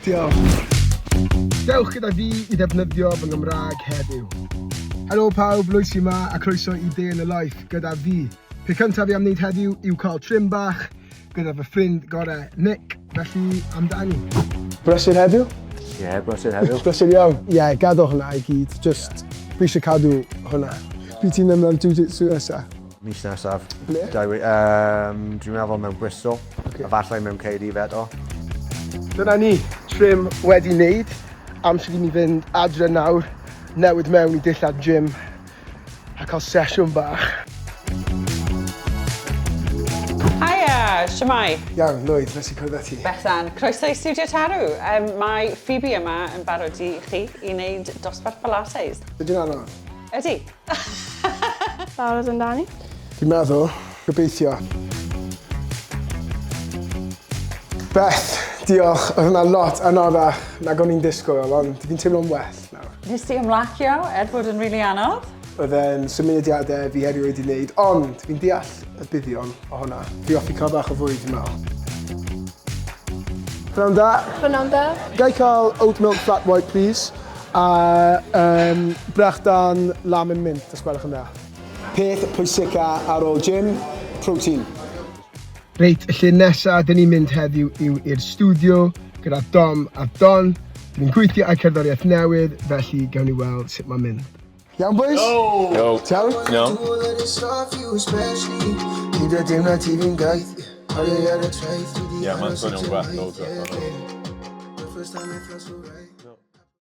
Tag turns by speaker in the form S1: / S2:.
S1: Diolch! Dewch gyda fi i ddefnyddio fy Nghymraeg heddiw! Helo pawb, Loisi 'ma a croeso i Day in the Life gyda fi. Peth cyntaf fi am wneud heddiw yw cael trim bach gyda fy ffrind gorau Nick, felly amdani. Brysur heddiw?
S2: Ie, yeah,
S3: brysur heddiw. brysur iawn. Ie, yeah,
S2: gadw hwnna i gyd, just yeah. fi eisiau cadw hwnna. Fi ti'n ymlaen jiu-jitsu nesa. Mis nesaf.
S3: Ble? Dau wi-
S2: Yym,
S3: dwi'n meddwl mewn Bristol. Ocê. Efallai mewn
S2: Caerdydd
S3: eto. Dyna
S1: ni, trim wedi neud. Amser i mi fynd adre nawr, newid mewn i dillad gym a cael sesiwn bach.
S4: Haia! Shwmae? Iawn, Lwyd, nes i
S2: cwrdd â ti. Bethan, croeso i Stiwdio
S4: Tarw. Yym, mae Phoebe yma yn barod i chi i wneud dosbarth Pilates. Ydy'n anodd?
S2: Ydy.
S5: Barod amdani? Dwi'n meddwl.
S2: Gobeithio. Beth! Diolch, oedd hwnna lot anorach nag o'n i'n disgwyl, ond fi'n teimlo'n well nawr. Nes ti ymlacio
S4: er bod yn rili anodd? Oedd e'n
S2: symudiadau fi erioed i wneud, ond fi'n deall y buddion o hwnna. Fi offi cael bach o fwyd, fi'n meddwl. Pnawn da. Pnawn da. Gai
S5: cael oat
S2: milk flat white, please? A yym brechdan lamb yn mint os gwelwch yn dda. Peth pwysica ar ôl gym, protein.
S1: Reit, y lle nesa dyn ni'n mynd heddiw yw i'r stiwdio gyda Dom a Don. Dyn ni'n gweithio ar cerddoriaeth newydd, felly gawn ni weld sut mae'n mynd. Iawn bois? Yo! T'awn? Iawn. Ie, ma'n
S2: swnio'n gwell,
S6: loads gwell.